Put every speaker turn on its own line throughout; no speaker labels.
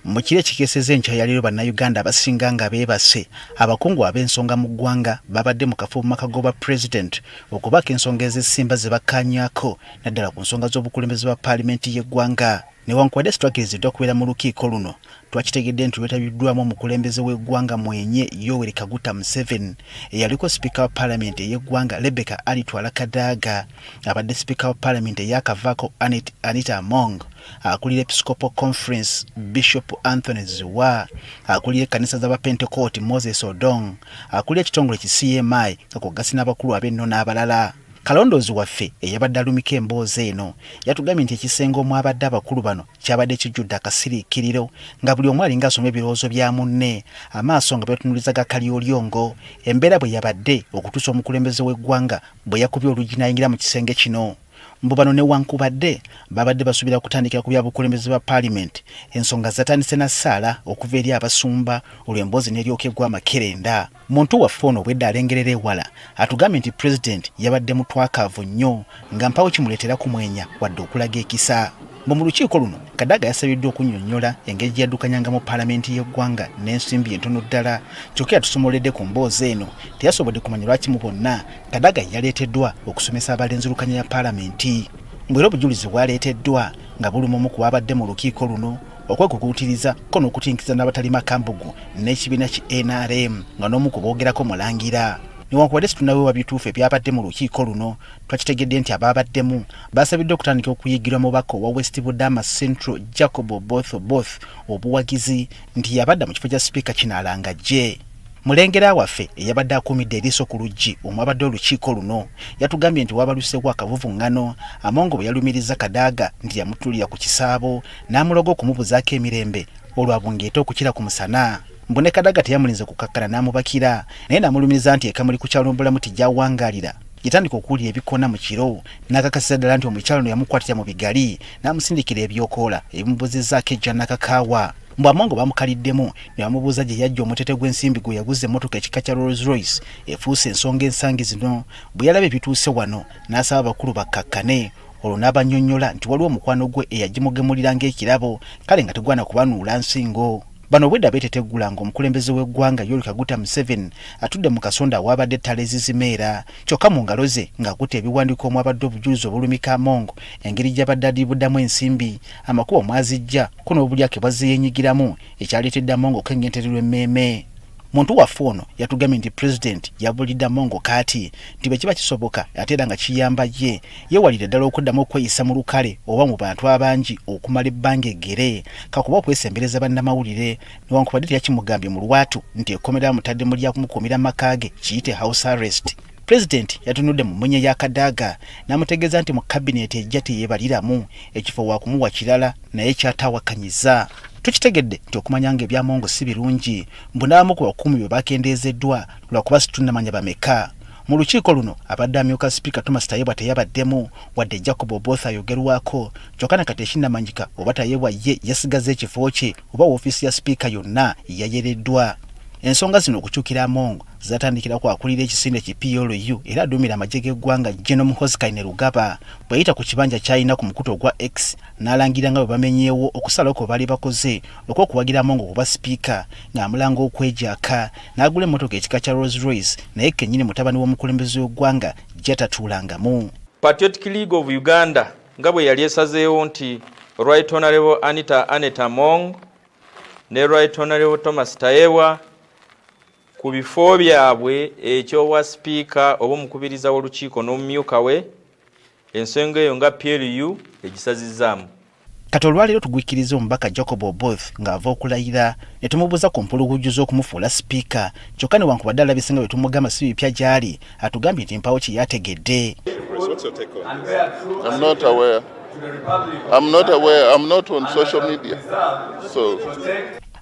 Mu kiro ekikeeseza enkya ya leero bannayuganda abasinga nga beebase abakungu ab'ensonga mu ggwanga babadde mu kafo mu maka g'obwa pulezidenti okubaako ensonga ezesimba ze bakkaanyako naddala ku nsonga z'obukulembeze bwa paalimenti y'eggwanga newankubadde situakiriziddwa okubeera mu lukiiko luno twakitegedde nti lwetabiddwamu omukulembeze w'eggwanga mwenye yoweri kaguta museveni eyaliko sipiika wa paalamenti ey'eggwanga rebecca alitwala kadaaga abadde sipiika wa palamenti eyakavaako anita among akulira episcopal conference bishop anthony ziwa akulira ekkanisa z'abapentekooti moses odong akulira ekitongole ki cmi nga kwogasi n'abakulu ab'enno n'abalala kalondoozi waffe eyabadde alumika emboozi eno yatugambye nti ekisenge omwabadde abakulu bano kyabadde kijjudde akasiriikiriro nga buli omu alinga asoma ebirowoozo bya munne amaaso nga betunuliza gakalyolyo ngo embeera bwe yabadde okutuusa omukulembeze w'eggwanga bwe yakubye oluggi n'ayingira mu kisenge kino. Mbu bano newankubadde baabadde basuubira kutandikira ku bya bukulembeze bwa paalimenti, ensonga zatandise na ssaala okuva eri abasumba olwo emboozi n'eryoka egwa amakerenda. Muntu waffe ono obwedda alengerera ewala atugambye nti pulezidenti yabadde mutwakaavu nnyo nga mpawo kimuleetera kumwenya wadde okulaga ekisa. Mbu mu lukiiko luno Kadaga yasabiddwa okunnyonnyola engeri gye yaddukanyanga mu paalamenti y'eggwanga n'ensimbi entono ddala kyokka yatusomoledde ku mboozi eno teyasobodde kumanya lwaki mu bonna Kadaga yaleeteddwa okusomesa abalenzirukanya ya paalamenti mbu era obujulizi bwaleeteddwa nga buli mumu ku baabadde mu lukiiko luno okwekukuutiriza ko n'okutinkiza n'abatalima kambugu n'ekibiina ki nrm nga n'omu ku boogerako mulangira newankubadde situnawewa bituufu ebyabadde mu lukiiko luno twakitegedde nti abaabaddemu basabiddwa okutandika okuyigirwa mubaka owa west budama central jacob oboth oboth obuwagizi nti yabadda mu kifo kya sipiika kino alangajje mulengera waffe eyabadde akuumidde eriiso ku luggi omwabadde olukiiko luno yatugambye nti wabaluseewo akavuvuŋŋano amongo bwe yalumiriza kadaaga nti yamutulira ku kisaabo n'amuloga okumubuzaako emirembe olwabungeeta okukira ku musana mbu ne kadaaga teyamulinze kukakkana n'amubakira naye n'amulumiriza nti ekamuli ku kyalo mbulamu tijawangaalira yatandika okuwulira ebikona mu kiro n'akakasiza ddala nti omukyalo no yamukwatira mu bigali n'amusindikira ebyokoola ebimubuzizaako ejja nakakaawa mbu amongo bamukaliddemu ne bamubuuza gye yajja omutete gw'ensimbi gwe yaguza emmotoka ekika kya rolls royce efuuse ensonga ensangi zino bwe yalaba ebituuse wano n'asaba abakulu bakkakkane olwo n'abanyonnyola nti waliwo omukwano gwe eyagimugemulira ng'ekirabo kale nga tegwana kubanuula nsingo Bano obwedda beeteteggula ng'omukulembeze w'eggwanga Yoweri Kaguta Museveni atudde mu kasonda awaabadde ettala ezizimeera kyokka mu ngalo ze ng'akutte ebiwandiiko omwabadde obujulizi obulumika Among engeri gy'abadde adiibudamu ensimbi, amakubo mw'aziggya ko n'obulyake bw'azze yeenyigiramu ekyaleetedde Among okwengentererwa emmeeme. muntu waffe ono yatugambye nti pulezidenti yabulidde amongo kaati nti bwe kiba kisoboka ate era nga kiyamba ye yeewalire ddala okuddamu okweyisa mu lukale oba mu bantu abangi okumala ebbanga eggere kakuba okwesembereza bannamawulire newankubadde teyakimugambye mu lwatu nti ekkomera amutadde mu lya kumukuumira maka ge kiyite house arrest pulezidenti yatunudde mu mmunye ya kadaaga n'amutegeeza nti mu kabineeti ejja teyeebaliramu ekifo waakumuwa kirala naye kyataawakanyiza tukitegedde nti okumanya nga ebyamongo si birungi mbu n'abamu ku bakuumi bwe bakendeezeddwa lwakuba situnnamanya bameka mu lukiiko luno abadde amyuka sipiika thomas tayebwa teyabaddemu wadde jacob oboth ayogerwako kyokka ne kati ekinnamanyika oba tayebwa ye yasigazza ekifo kye oba woofiisi ya sipiika yonna yayereddwa ensonga zino okukyukira amongo zatandikira ku akulira ekisinde ki PLU era aduumira amagye g'eggwanga General Muhoozi Kainerugaba bwe yayita ku kibanja ky'alina ku mukutu ogwa X n'alangira nga bwe bamenyeewo okusalawo kwe baali bakoze okw'okuwagira Amongo okuba sipiika ng'amulanga okwegyaka n'agula emmotoka ekika kya Rolls Royce naye kennyini mutabani w'omukulembeze w'eggwanga gy'atatuulangamu. Patriotic
League of Uganda nga bwe yali esazeewo nti Right Honourable Anita Aneta Among ne Right Honourable Thomas Tayewa ku bifo byabwe eky'obwa sipiika oba omukubiriza w'olukiiko n'omumyuka we ensonga eyo nga PLU egisazizzaamu. Kati
olwaleero tugwikkiriza omubaka Jacob Oboth ng'ava okulayira ne tumubuuza ku mpuluguju z'okumufuula sipiika kyokka newankubadde alabise nga bwe tumugamba si bipya gy'ali atugambye nti mpaawo kye yategedde.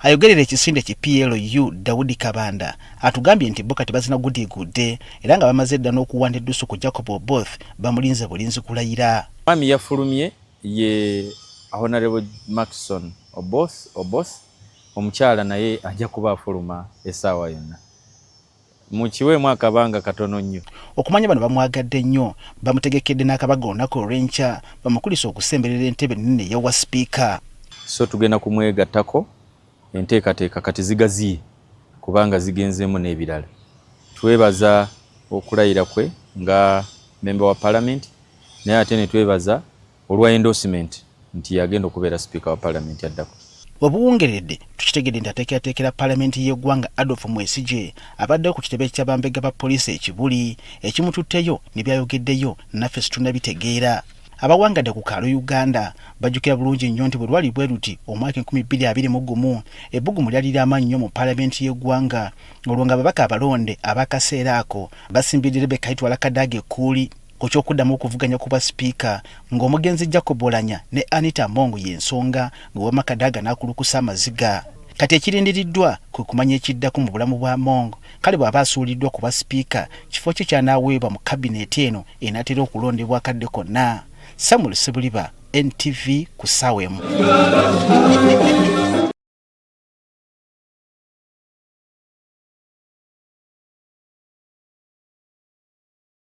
Ayogerera
ekisinde ki PLU Daudi Kabanda atugambye nti bo kati bazina gudiigudde era nga bamaze dda n'okuwanda eddusu ku Jacob Oboth bamulinze bulinzi kulayira. Mwami yafulumye
ye Honorable Maxon Oboth Oboth omukyala naye ajja kuba afuluma essaawa yonna. mukiweemu akabanga katono nnyo. Okumanya bano bamwagadde
nnyo, bamutegekedde n'akabaga olunaku olw'enkya bamukulise okusemberera entebe ennene eya wa sipiika. So
tugenda kumwegattako enteekateeka kati zigaziye kubanga zigenzeemu n'ebirala. Twebaza okulayira kwe nga mmemba wa palamenti naye ate ne twebaza olwa endorsement nti yagenda okubeera sipiika wa palamenti addako. Webuwungeredde
tukitegedde nti ateekerateekera palamenti y'eggwanga Adolf Mwesigye abaddewo ku kitebe kya bambega ba poliisi e Kibuli ekimututteyo ne byayogeddeyo naffe situnabitegeera. Abawangadde ku kaalo Uganda bajjukira bulungi nnyo nti bwe lwali bwe luti omwaka enkumi bbiri abiri mu gumu ebbugumu lyali lya maanyi nnyo mu palamenti y'eggwanga olwo ng'ababaka abalonde ab'akaseera ako basimbiridde Rebecca Itwala Kadaga ekkuuli ku ky'okuddamu okuvuganya ku bwa sipiika ng'omugenzi Jacob Olanya ne Anita Among y'ensonga ng'owama Kadaga n'akulukusa amaziga. Kati ekirindiriddwa kwe kumanya ekiddako mu bulamu bwa Among kale bw'aba asuuliddwa ku bwa sipiika kifo kye ky'anaaweebwa mu kabineeti eno enaatera okulondebwa akadde konna. Samuel Sibuliba, NTV, ku ssaawa emu.